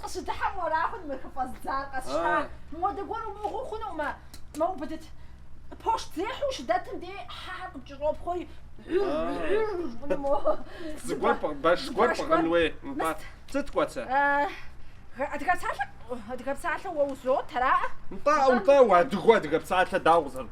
Къыщыдыхьэм уэра хъун мы хыфӏэздзар къэсщта? Модэ зыгуэр умыӏыгъыу хъунукъым, мэ, убыдыт. Пощт зехьу ущыдэтым дей хьэхэр къыпкӏэщӏопхъуэри, гьыр-гьыр-гьыр хъуну мо? Зыгуэр пӏыгъ, бэш гуэр пӏыгъын хуей, нтӏэ. Сыт кӏуэцэ? Адыгэ псалъэ, адыгэ псалъэ уэ узот, араӏэ? Нтӏэ, нтӏэ, уэ адыгэу адыгэ псалъэ дауэ къызэрыт?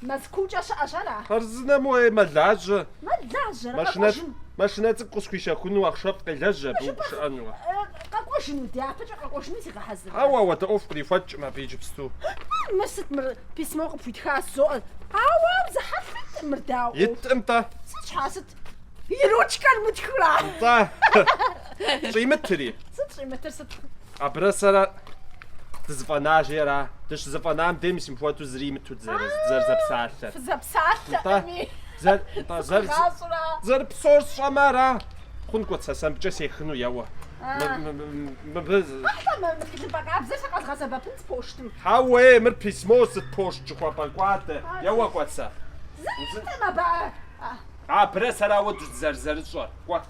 Мэзкуукӏэ щыӏэщ ара? Хъарзынэм уей мэлажьэ. Мэлажьэрэ? Машинэ, Къэкӏуэжын. машинэ цӏыкӏу къысхуищэхуну ахъшэфӏ къелэжь абы Жыпӏэр ущыӏэнуэ. э, къэкӏуэжыну, дяпэкӏэ къэкӏуэжыну зегъэхьэзыр. Хьэуэ, апхуэдэ ӏуэху кърихуэкӏкъым абы иджыпсту. Мыр сыт мыр? Письмор къыпхуитха жызоӏэ. Ауэ ар зыхьэлъэт, мыр дауэ? Иткъым-тӏэ. Сыт щхьэ, сыт? И ручкэр мытхэра? Нтӏэ. Щӏимытри. Сыт щӏимытыр, сыт? Абырэ сэрэ дызэфӏэнажи ара? Дыщызэфӏэнам дей мис мыпхуэдэу зыри имыту дызэрызэпсалъэр. Фызэпсалъэкъыми. Сыкъыгъащӏэра? Зэр псор сщӏэмэ ара? Хъун, кӏуэт сэ сэмбыкӏэ сехыну, еуэ. Мыбы. Къэхьлэ, мы тхылъымпӏэ къабзэр сэ къэзгъэсэбэпын си пощтым. Хьэуэ-ей, мыр письмо сыт пощт жыхуэпӏэ кӏуадэ, еуэ кӏуэ сэ. Зыри иткъым абы ар. Абырэ сэрэ ауэ дызэрызэрыщӏэр, кӏуэ.